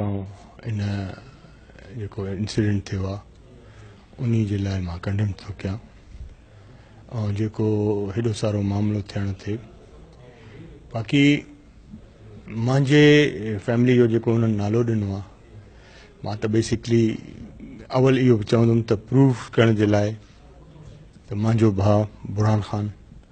آئون ان جيڪو انسيڊنٽ ٿيو آ انهي جي لاء مان ڪنڊيم ٿو ڪيان ۽ جيڪو هيڏو سارو معاملو ٿيڻ تي باقي منهنجي فيملي جو جيڪو انهن نالو ڏنو آ مان ته بيسڪلي اول اهو به چوندم ته پروف ڪرڻ جي لاء ته منهنجو ڀاء برهان خان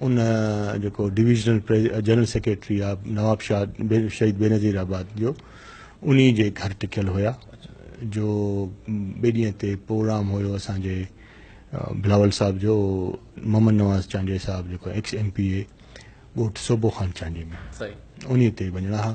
ان جيڪو ڊويزنل جنرل سيڪريٽري آ نواب شاهه شهيد بينظير آباد جو انهي جي گهر ٽڪيل هيا جو ٻئي ڏينهن تي پروگرام هيو اسان جي بلاول صاحب جو محمد نواز چانڊيي صاحب جيڪو ايڪس ايم پي اي ڳوٺ صوبو خان چانڊيي ۾ انهي تي وڃڻا ها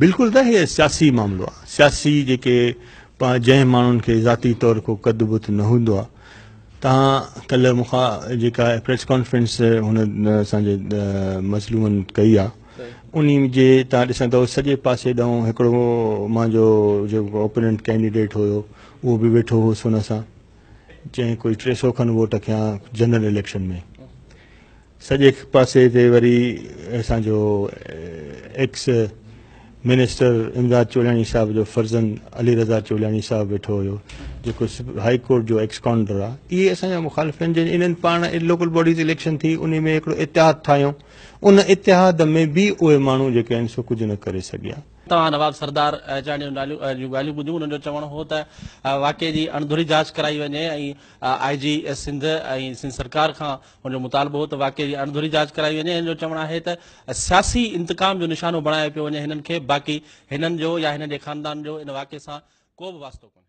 بلڪل ته هي سياسي معاملو آهي سياسي جيڪي جنهن ماڻهن کي ذاتي طور ڪو قد بت نه هوندو آهي تان ڪلهه مون کان جيڪا پريس ڪانفرنس هن اسان جي مظلومن ڪئي آهي ان جي تان ڏسندو سڄي پاسي ڏانهن هڪڙو مان جو جيڪو اوپننٽ ڪينڊيڊيٽ هيو اهو به ويٺو هو سن سان جنهن ڪوئي ٽي سو کن ووٽ کيا جنرل اليڪشن ۾ سڄي پاسي تي وري اسان جو ايڪس منسٽر امداد چولاڻي صاحب جو فرزند علي رضا چولاڻي صاحب ويٺو هيو جيڪو هائي ڪورٽ جو ايڪس ڪانڊر آهي اهي اسان جا مخالف آهن جن انهن پاڻ لوڪل باڊيز اليڪشن ٿي ان ۾ هڪڙو اتحاد ٺاهيو ان اتحاد ۾ به اهي ماڻهو جيڪي آهن سو ڪجهه نه ڪري سگهيا توهان نواب سردار احجاڻي جون ڳالهيون ٻڌيون انهن جو چوڻ هو ته واقعي جي اڻڌري جاچ ڪرائي وڃي ۽ آء جي سنڌ ۽ سنڌ سرڪار کان هن جو مطالبو هو ته واقعي جي اڻڌري جاچ ڪرائي وڃي هن جو چوڻ آهي ته سياسي انتقام جو نشانو بڻايو پيو وڃي هنن کي باقي هنن جو يا هنن جي خاندان جو ان واقعي سان ڪو به واسطو ڪونهي